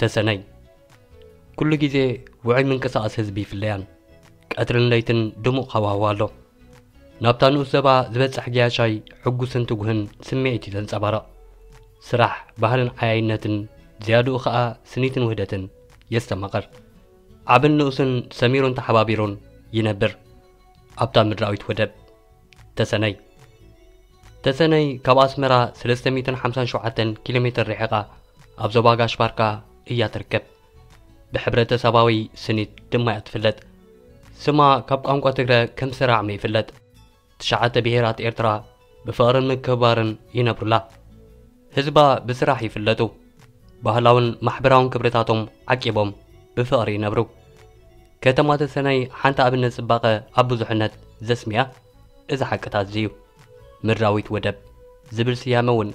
ተሰነይ ኩሉ ግዜ ውዑይ ምንቅስቓስ ህዝቢ ይፍለያን ቀትርን ለይትን ድሙቕ ሃዋህዋ ኣሎ ናብታ ንኡስ ዘባ ዝበጽሕ ገያሻይ ሕጉስን ትጉህን ስምዒት እዩ ዘንጸባረቕ ስራሕ ባህልን ዓያይነትን ዝያድኡ ኸኣ ስኒትን ውህደትን የስተማቕር ዓብን ንኡስን ሰሚሩን ተሓባቢሩን ይነብር ኣብታ ምድራዊት ወደብ ተሰነይ ተሰነይ ካብ ኣስመራ ሰለስተ ሚእትን ሓምሳን ሸውዓተን ኪሎ ሜተር ርሒቓ ኣብ ዞባ ጋሽ ባርካ እያ ትርከብ። ብሕብረተሰባዊ ስኒት ድማ እያ ትፍለጥ። ስማ ካብ ቋንቋ ትግረ ከም ስራዕሚ ይፍለጥ። ትሽዓተ ብሄራት ኤርትራ ብፍቕርን ምክብባርን ይነብሩላ። ህዝባ ብስራሕ ይፍለጡ። ባህላውን ማሕበራውን ክብርታቶም ዓቂቦም ብፍቕሪ ይነብሩ። ከተማ ተሰነይ ሓንቲ ኣብነት ጽባቐ ኣብ ብዙሕነት ዘስምያ እዚ ሓቅታት እዚ'ዩ። ምድራዊት ወደብ ዝብል ስያመ እውን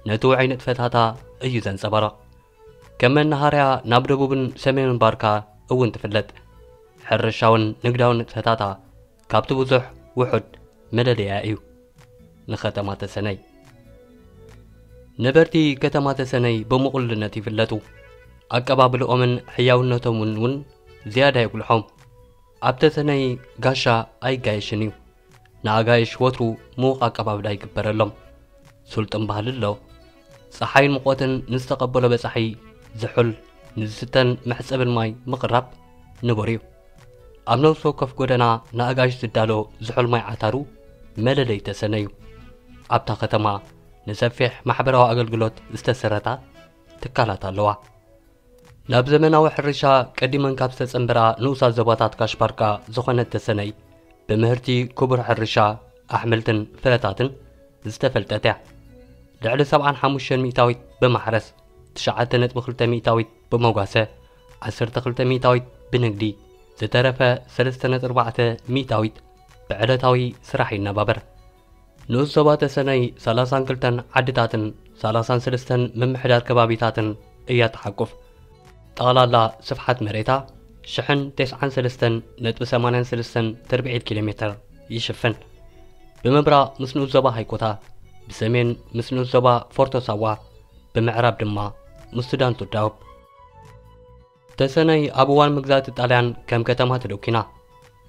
ነቲ ውዑይ ንጥፈታታ እዩ ዘንጸባርቕ። ከም መነሃርያ ናብ ደቡብን ሰሜንን ባርካ እውን ትፍለጥ። ሕርሻውን ንግዳውን ንጥፈታታ ካብቲ ብዙሕ ውሑድ መለለያ እዩ ንከተማ ተሰነይ። ነበርቲ ከተማ ተሰነይ ብምቕሉልነት ይፍለጡ። ኣቀባብልኦምን ሕያውነቶምን እውን ዝያዳ የጉልሖም። ኣብ ተሰነይ ጋሻ ኣይጋየሽን እዩ። ንኣጋይሽ ወትሩ ምዉቕ ኣቀባብላ ይግበረሎም። ስልጡን ባህሊ ኣሎ። ፀሓይን ሙቐትን ንዝተቐበሎ በፃሒ ዝሑል፣ ንዝስተን መሕፀብን ማይ ምቕራብ ንቡር እዩ። ኣብ ነብሲ ወከፍ ጎደና ንኣጋይሽ ዝዳሎ ዝሑል ማይ ዓታሩ መለለይ ተሰነ እዩ። ኣብታ ከተማ ንሰፊሕ ማሕበራዊ ኣገልግሎት ዝተሰረታ ትካላት ኣለዋ። ናብ ዘመናዊ ሕርሻ ቀዲመን ካብ ዝተጸንበራ ንኡሳት ዞባታት ካሽባርካ ዝኾነት ተሰነይ ብምህርቲ ክቡር ሕርሻ ኣሕምልትን ፍረታትን ዝተፈልጠት እያ ልዕሊ 75 ሚእታዊት ብማሕረስ 9.2 ሚእታዊት ብመጓሰ ዓሰርተ ክልተ ሚእታዊት ብንግዲ፣ ዝተረፈ ሰለስተ ነጥቢ ኣርባዕተ ሚእታዊት ብዕለታዊ ስራሕ ይነባበር። ንኡስ ዞባ ተሰነይ ሰላሳን ክልተን ዓድታትን ሰላሳን ሰለስተን ምምሕዳር ከባቢታትን እያ ትሓቁፍ። ጠቕላላ ስፍሓት መሬታ ሽሕን ቴስዓን ሰለስተን ነጥቢ ሰማንያን ሰለስተን ትርብዒት ኪሎ ሜትር ይሽፍን። ብምብራቕ ምስ ንኡስ ዞባ ሃይኮታ፣ ብሰሜን ምስ ንኡስ ዞባ ፎርቶ ሳዋ፣ ብምዕራብ ድማ ምስ ሱዳን ቱዳውብ ተሰነይ ኣብ እዋን መግዛእቲ ጣልያን ከም ከተማ ተደኲና።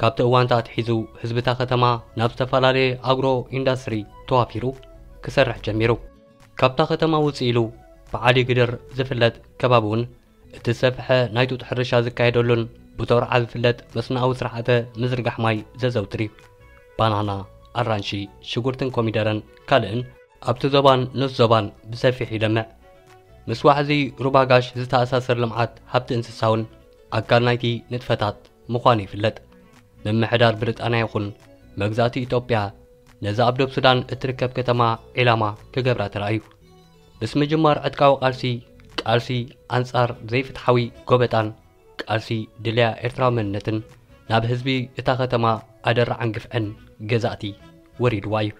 ካብቲ እዋንታ ኣትሒዙ ህዝቢታ ከተማ ናብ ዝተፈላለየ ኣግሮ ኢንዳስትሪ ተዋፊሩ ክሰርሕ ጀሚሩ። ካብታ ከተማ ውፅእ ኢሉ ብዓሊ ግድር ዝፍለጥ ከባቢ እውን እቲ ዝሰፍሐ ናይ ጡጥ ሕርሻ ዝካየደሉን ብቶርዓ ዝፍለጥ መስኖኣዊ ስርዓተ ምዝርጋሕ ማይ ዘዘውትር እዩ። ባናና፣ ኣራንሺ፣ ሽጉርትን ኮሚደረን ካልእን ኣብቲ ዞባን ንስ ዞባን ብሰፊሕ ይለምዕ። ምስ ዋሕዚ ሩባ ጋሽ ዝተኣሳሰር ልምዓት ሃብቲ እንስሳውን ኣካል ናይቲ ንጥፈታት ምዃኑ ይፍለጥ። ምምሕዳር ብሪጣንያ ይኹን መግዛእቲ ኢትዮጵያ ነዛ ኣብ ዶብ ሱዳን እትርከብ ከተማ ዒላማ ክገብራ ተራእዩ። ምስ ምጅማር ዕጥቃዊ ቃልሲ፣ ቃልሲ ኣንጻር ዘይፍትሓዊ ጎበጣን ቃልሲ ድልያ ኤርትራዊ መንነትን ናብ ህዝቢ እታ ከተማ ኣደራዕን ግፍዕን ገዛእቲ ወሪድዋ እዩ።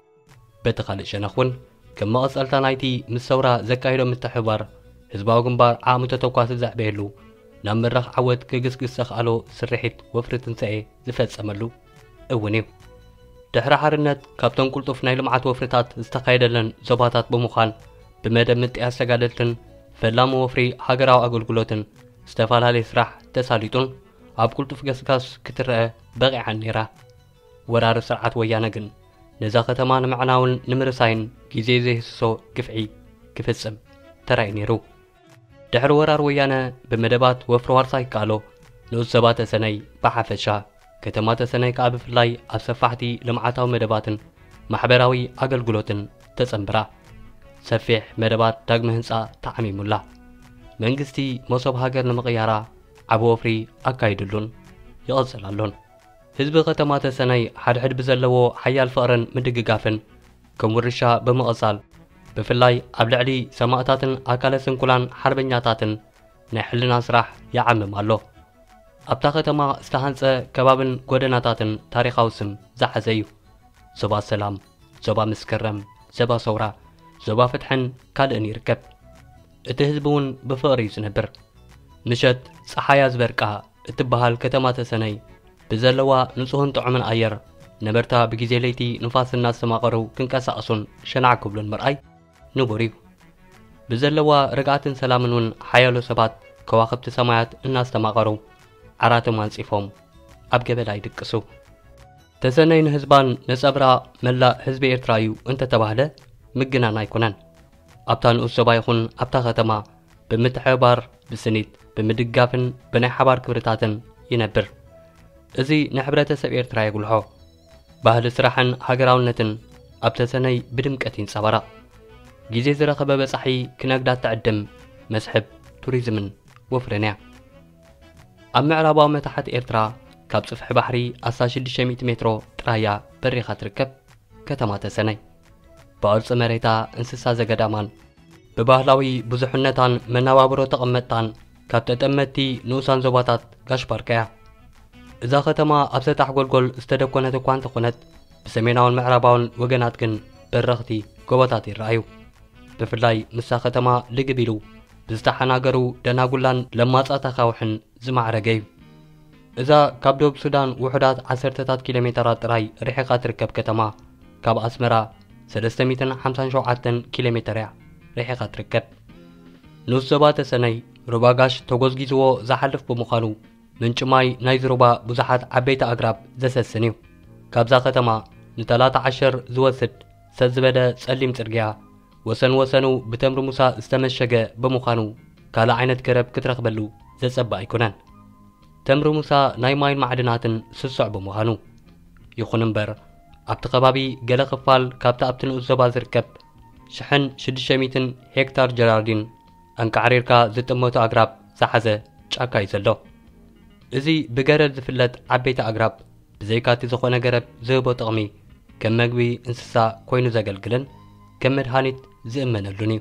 በቲ ካልእ ሸነኽ እውን ከም መቐጸልታ ናይቲ ምስ ሰውራ ዘካይዶ ምትሕብባር ህዝባዊ ግንባር ዓቕሚ ተተኳሲ ዘዕበየሉ፣ ናብ መድረኽ ዓወት ክግስግስ ዘኽኣሎ ስርሒት ወፍሪ ትንሳኤ ዝፈጸመሉ እውን እዩ። ድሕሪ ሓርነት ካብተን ቁልጡፍ ናይ ልምዓት ወፍርታት ዝተኻየደለን ዞባታት ብምዃን ብመደብ ምጥያስ ተጋደልትን ፈላሚ ወፍሪ ሃገራዊ ኣገልግሎትን ዝተፈላለየ ስራሕ ተሳሊጡን ኣብ ቁልጡፍ ገስጋስ ክትረአ በቒዓን ነይራ። ወራሪ ስርዓት ወያነ ግን ነዛ ከተማ ንምዕናውን ንምርሳይን ግዜ ዘይህስሶ ግፍዒ ክፍጽም ተራእዩ ነይሩ። ድሕሪ ወራር ወያነ ብመደባት ወፍሪ ዋርሳይ ይከኣሎ ንኡስ ዘባ ተሰነይ ብሓፈሻ ከተማ ተሰነይ ከኣ ብፍላይ ኣብ ሰፋሕቲ ልምዓታዊ መደባትን ማሕበራዊ ኣገልግሎትን ተጸንብራ ሰፊሕ መደባት ዳግመ ህንጻ ተዓሚሙላ መንግስቲ መሶብ ሃገር ንምቕያራ ዓቢ ወፍሪ ኣካይድሉን ይቕጽል ኣሎን። ህዝቢ ከተማ ተሰነይ ሓድሕድ ብዘለዎ ሓያል ፍቕርን ምድግጋፍን ከም ውርሻ ብምቕጻል ብፍላይ ኣብ ልዕሊ ሰማእታትን ኣካለ ስንኩላን ሓርበኛታትን ናይ ሕልና ስራሕ ይዓምም ኣሎ። ኣብታ ከተማ ዝተሃንጸ ከባብን ጎደናታትን ታሪኻዊ ስም ዝሓዘ እዩ። ዞባ ሰላም፣ ዞባ መስከረም፣ ዞባ ሰውራ፣ ዞባ ፍትሕን ካልእን ይርከብ። እቲ ህዝቢ እውን ብፍቕሪ እዩ ዝነብር። ምሸት ጸሓያ ዝበርቃ እትበሃል ከተማ ተሰነይ ብዘለዋ ንጹህን ጥዑምን ኣየር ነበርታ ብግዜ ለይቲ ንፋስ እናስተማቐሩ ክንቀሳቐሱን ሸናዕ ክብሉን ምርኣይ ንቡር እዩ። ብዘለዋ ርግኣትን ሰላምን እውን ሓያሎ ሰባት ከዋኽብቲ ሰማያት እናስተማቐሩ ዓራቶም ኣንጺፎም ኣብ ገበላ ይድቅሱ። ተሰነይ ንህዝባን ነጸብራቕ መላእ ህዝቢ ኤርትራ እዩ እንተተባህለ ምግናን ኣይኮነን። ኣብታ ንኡስ ዞባ ይኹን ኣብታ ከተማ ብምትሕብባር ብስኒት ብምድጋፍን ብናይ ሓባር ክብርታትን ይነብር እዚ ንሕብረተሰብ ኤርትራ የጉልሖ ባህሊ ስራሕን ሃገራውነትን ኣብ ተሰነይ ብድምቀት ይንጸባረቕ ግዜ ዝረኸበ በጻሒ ክነግዳ ትዕድም መስሕብ ቱሪዝምን ወፍርን እያ ኣብ ምዕራባዊ መታሕት ኤርትራ ካብ ጽፍሒ ባሕሪ ኣሳ 600 ሜትሮ ጥራያ በሪኻ ትርከብ ከተማ ተሰነይ ብቕርፂ መሬታ እንስሳ ዘገዳማን ብባህላዊ ብዙሕነታን መነባብሮ ተቐመጥታን ካብ ተጠመትቲ ንኡሳን ዞባታት ጋሽ ባርካ እያ። እዛ ከተማ ኣብ ሰጣሕ ጎልጎል ዝተደኮነት እኳ እንተኾነት ብሰሜናውን ምዕራባውን ወገናት ግን በረኽቲ ጎቦታት ይረኣዩ። ብፍላይ ንሳ ከተማ ልግብ ኢሉ ብዝተሓናገሩ ደናጉላን ለማጻት ኣኻውሕን ዝማዕረገ'ዩ። እዛ ካብ ዶብ ሱዳን ውሑዳት ዓሰርተታት ኪሎሜተራት ጥራይ ርሒቓ ትርከብ ከተማ፣ ካብ ኣስመራ ሰለስተ ሚእትን ሓምሳን ሸውዓተን ኪሎሜተር'ያ ርሒቓ ትርከብ። ኑስ ዞባ ተሰነይ ሩባ ጋሽ ተጎዝጊዝዎ ዝሓልፍ ብምዃኑ፣ ምንጪ ማይ ናይዚ ሩባ ብዙሓት ዓበይቲ ኣግራብ ዘሰስን'ዩ። ካብዛ ከተማ ንተላታ ዓሸር ዝወስድ ሰጥ ዝበለ ጸሊም ጽርግያ ወሰን ወሰኑ ብተምሪ ሙሳ ዝተመሸገ ብምዃኑ ካልእ ዓይነት ገረብ ክትረኽበሉ ዘጸብእ ኣይኮነን። ተምሪ ሙሳ ናይ ማይን ማዕድናትን ስሱዕ ብምዃኑ። ይኹን እምበር ኣብቲ ከባቢ ገለ ክፋል ካብቲ ኣብቲ ንኡስ ዞባ ዝርከብ ሽሕን ሽዱሽተ ሚእትን ሄክታር ጀራርዲን ኣንቃዕሪርካ ዝጥመቱ ኣግራብ ዝሓዘ ጫካ እዩ ዘሎ። እዚ ብገረድ ዝፍለጥ ዓበይቲ ኣግራብ ብዘይካቲ ዝኾነ ገረብ ዝህቦ ጥቕሚ ከም መግቢ እንስሳ ኮይኑ ዘገልግልን ከም መድሃኒት ዝእመነሉን እዩ።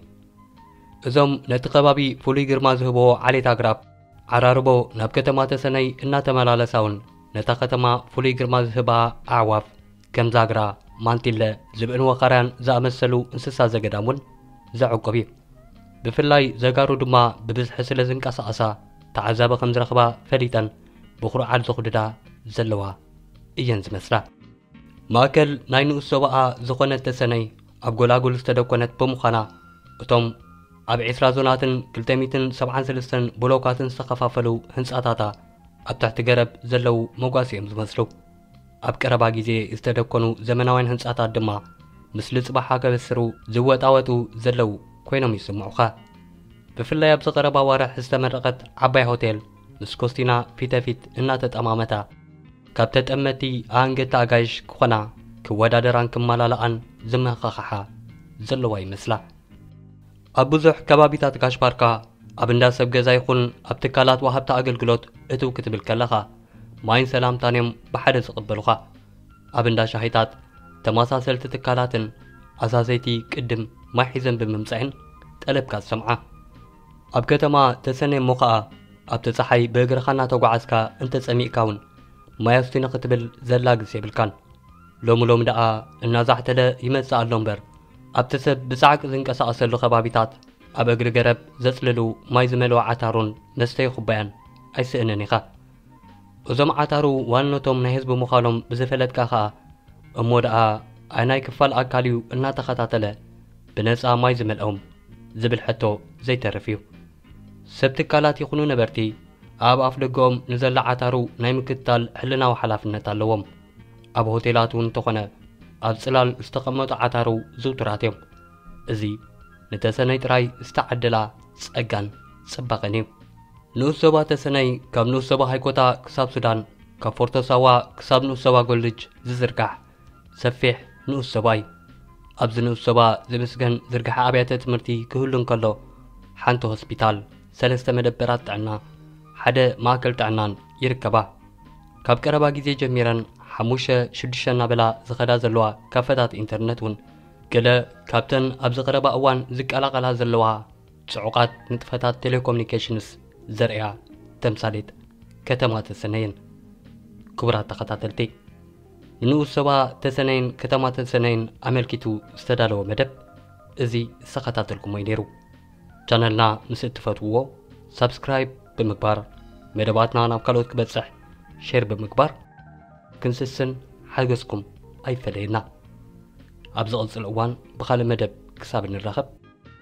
እዞም ነቲ ከባቢ ፍሉይ ግርማ ዝህቦ ዓሌት ኣግራብ ዓራርቦ ናብ ከተማ ተሰነይ እናተመላለሳ እውን ነታ ከተማ ፍሉይ ግርማ ዝህባ ኣዕዋፍ ከም ዛግራ፣ ማንቲለ፣ ዝብእን ወኻርያን ዝኣመሰሉ እንስሳ ዘገዳም እውን ዘዕቁብ እዩ። ብፍላይ ዘጋሩ ድማ ብብዝሒ ስለ ዝንቀሳቐሳ ተዓዛቢ ከም ዝረኽባ ፈሊጠን ብኩርዓል ዘኹድዳ ዘለዋ እየን ዝመስላ። ማእከል ናይ ንኡስ ዞባኣ ዝኾነት ተሰነይ ኣብ ጎላጉል ዝተደኮነት ብምዃና እቶም ኣብ ዕስራ ዞናትን ክልተ ሚእትን ሰብዓን ሰለስተን ብሎካትን ዝተኸፋፈሉ ህንጻታታ ኣብ ትሕቲ ገረብ ዘለዉ መጓሲ እዮም ዝመስሉ። ኣብ ቀረባ ግዜ ዝተደኮኑ ዘመናውያን ህንጻታት ድማ ምስሊ ጽባሓ ከበስሩ ዝወጣወጡ ዘለዉ ኮይኖም ይስምዑኻ። ብፍላይ ኣብዚ ቀረባ ኣዋርሕ ዝተመረቐት ዓባይ ሆቴል ምስ ኮስቲና ፊተፊት እናተጠማመታ፣ ካብ ተጠመትቲ ኣኣንገድቲ ኣጋይሽ ክኾና ክወዳደራን ክመላልኣን ዝመሃኻኽሓ ዘለዋ ይመስላ። ኣብ ብዙሕ ከባቢታት ጋሽ-ባርካ፣ ኣብ እንዳ ሰብ ገዛ ይኹን ኣብ ትካላት ወሃብቲ ኣገልግሎት እትው ክትብል ከለኻ፣ ማይን ሰላምታን እዮም ብሓደ ዝቕበሉኻ። ኣብ እንዳ ሻሂታት፣ ተመሳሰልቲ ትካላትን ኣዛዘይቲ ቅድም ማይ ሒዘን ብምምጸኤን ጠለብካ ትሰምዓ። ኣብ ከተማ ተሰነይ እሞ ኸኣ ኣብቲ ጸሓይ ብእግርኻ እናተጓዓዝካ እንተ ጸሚእካ ውን ማይ ኣስቱኒ ክትብል ዘላግስ የብልካን። ሎሚ ሎሚ ደኣ እናዛሕተለ ይመጽእ ኣሎ እምበር ኣብቲ ሰብ ብጻዕቂ ዝንቀሳቐሰሉ ከባቢታት ኣብ እግሪ ገረብ ዘጽልሉ ማይ ዝመልኦ ዓታሮን መስተዪ ኩባያን ኣይስእንን ኢኻ። እዞም ዓታሩ ዋንነቶም ናይ ህዝቢ ምዃኖም ብዝፈለጥካ ከኣ እሞ ደኣ ኣይናይ ክፋል ኣካል እዩ እናተኸታተለ ብነጻ ማይ ዝመልኦም ዝብል ሕቶ ዘይተርፍ እዩ። ሰብ ትካላት ይኹኑ ነበርቲ ኣብ ኣፍደገኦም ንዘሎ ዓታሩ ናይ ምክትታል ሕልናዊ ሓላፍነት ኣለዎም። ኣብ ሆቴላት እውን እንተኾነ ኣብ ጽላል ዝተቐመጡ ዓታሩ ዝውቱራት እዮም። እዚ ንተሰነይ ጥራይ ዝተዓደላ ጸጋን ጽባቐን እዩ። ንኡስ ዞባ ተሰነይ ካብ ንኡስ ዞባ ሃይኮታ ክሳብ ሱዳን ካብ ፎርቶ ሳዋ ክሳብ ንኡስ ዞባ ጎልጅ ዝዝርጋሕ ሰፊሕ ንኡስ ዞባ እዩ። ኣብዚ ንኡስ ዞባ ዝምስገን ዝርግሐ ኣብያተ ትምህርቲ ክህሉ እንከሎ ሓንቲ ሆስፒታል፣ ሰለስተ መደበራት ጥዕና፣ ሓደ ማእከል ጥዕናን ይርከባ። ካብ ቀረባ ግዜ ጀሚረን ሓሙሽተ ሽዱሽተ እናበላ ዝኸዳ ዘለዋ ካፈታት ኢንተርነት እውን ገለ ካብተን ኣብዚ ቀረባ እዋን ዝቀላቐላ ዘለዋ ጽዑቓት ንጥፈታት ቴሌኮሙኒኬሽንስ ዘርእያ ተምሳሌት ከተማ ተሰነይን። ክቡራት ተኸታተልቲ፣ ንንኡስ ዞባ ተሰነይን ከተማ ተሰነይን ኣመልኪቱ ዝተዳለወ መደብ እዚ ዝተኸታተልኩሞ እዩ ነይሩ። ቻነልና ምስ እትፈትውዎ ሳብስክራይብ ብምግባር መደባትና ናብ ካልኦት ክበጽሕ ሼር ብምግባር ክንስስን ሓገዝኩም ኣይፈለየና። ኣብ ዝቕጽል እዋን ብኻልእ መደብ ክሳብ እንራኸብ